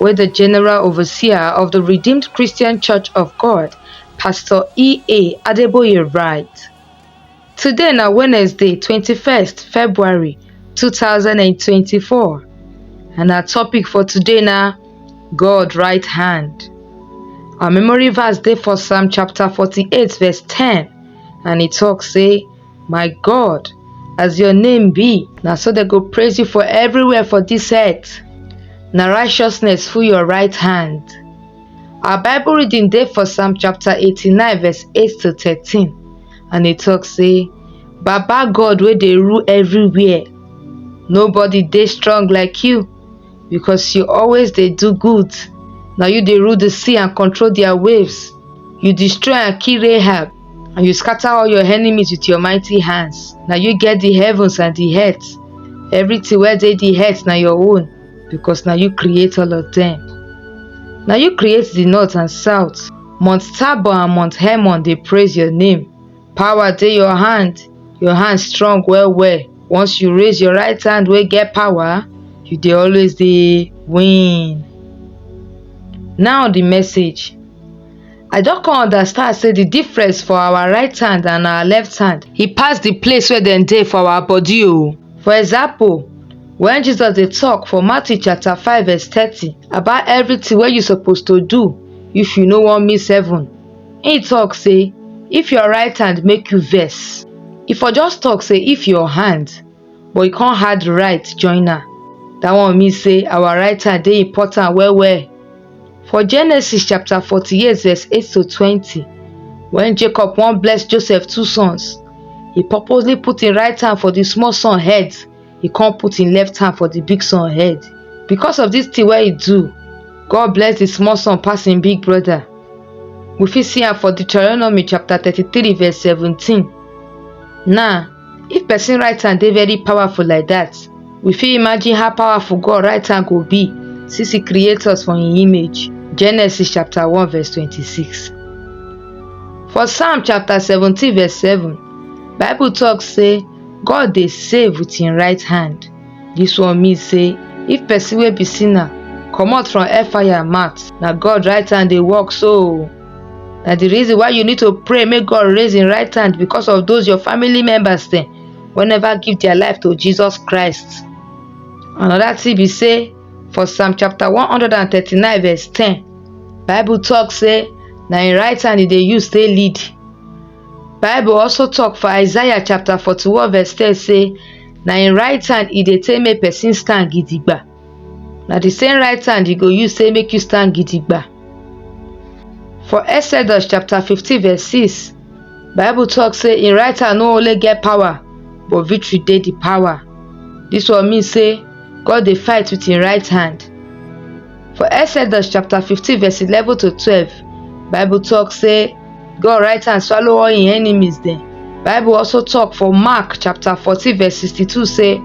wey di general overseer of di redeemed christian church of god pastor ea adeboye write today na wednesday twenty first february two thousand and twenty four and our topic for today na god right hand our memory verse dey for psalm chapter forty eight verse ten and e talk say my god as your name be na so dem go praise you for everywhere for dis earth na righteousness full your right hand our bible reading dey for psalm chapter 89 verse 8 to 13 and e tok say baba god wey dey rule everywhere nobody dey strong like you because you always dey do good na you dey rule the sea and control their waves you destroy and kill rahab and you scatter all your enemies with your mighty hands Now you get the heavens and the earth everything where they the earth now your own because now you create all of them Now you create the north and south mount tabor and mount hermon they praise your name power dey your hand your hand strong well well once you raise your right hand we get power you they always the win now the message I don come understand say the difference for our right hand and our left hand, e pass the place wey dem dey for our body o. For example, when Jesus dey talk for Matthew chapter 5 verse 30 about everything wey you suppose to do if you no wan miss heaven, he talk say if your right hand make you vex, e for just talk say if your hand but e come add right join am. Dat one mean sey our right hand dey important well well. For Genesis chapter forty eight verse eight to twenty, when Jacob wan bless Joseph two sons, he purposely put im right hand for the small son head, he come put im left hand for the big son head. Because of this thing wey he do, God bless the small son pass im big brother. We fit see am for Deuteronomy chapter thirty three verse seventeen. Now If person right hand dey very powerful like that, we fit imagine how powerful God right hand go be since he create us for him image. Genesis chapter 1 verse 26. For Psalm chapter 17 verse 7, Bible talk say God dey save with him right hand. This one mean say if person wey be sinner comot from hellfire mouth, na God right hand dey work so. na the reason why you need to pray make god raise him right hand because of those your family members dem wey never give their life to jesus christ another thing be say for psalm chapter 139 verse 10 bible talk say na him right hand he dey use take lead bible also talk for isaiah chapter 41 verse 10 say na him right hand he dey take make person stand gidigba na the same right hand you go use say make you stand gidigba for exodus chapter 15 verse 6 bible talk say im right hand no only get power but victory dey the power this one mean say god dey fight with im right hand for exodus chapter 15 verse 11 to 12 bible talk say God write and swallow all im enemies dem. Bible also talk for Mark chapter 14 verse 62 say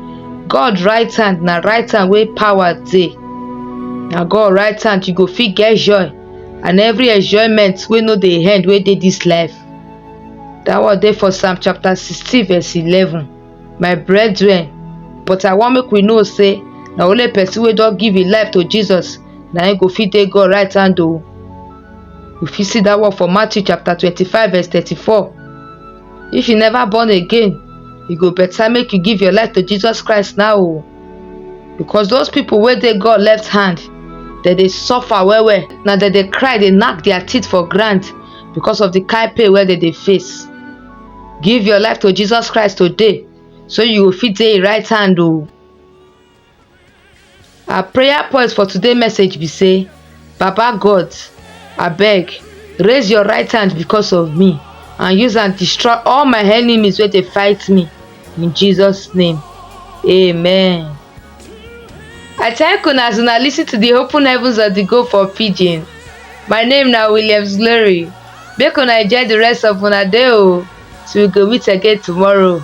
God right hand na right hand wey power dey. Na God right hand you go fit get joy and every enjoyment wey no dey end wey dey this life. That one dey for Psalm chapter 16 verse 11. My brethren, but I wan make we know say na only person wey don give im life to Jesus na im go fit dey God right hand o. You fit see that word for Matthew chapter 25 verse 34. If you never born again, you go better make you give your life to Jesus Christ now o. Oh. Because those people wey dey God left hand, dem dey suffer well well. Na dem dey cry dey knack their teeth for ground because of the kind pain wey dem dey face. Give your life to Jesus Christ today so you go fit dey im right hand o. Oh. Our prayer point for today message be say, Baba God, I beg, raise your right hand because of me and use and destroy all my enemies where they fight me. In Jesus' name, amen. I thank you as una listen to the open heavens of the go for pidgin. My name now Williams Glory. Make una enjoy the rest of una day o. Oh. Till we go meet again tomorrow.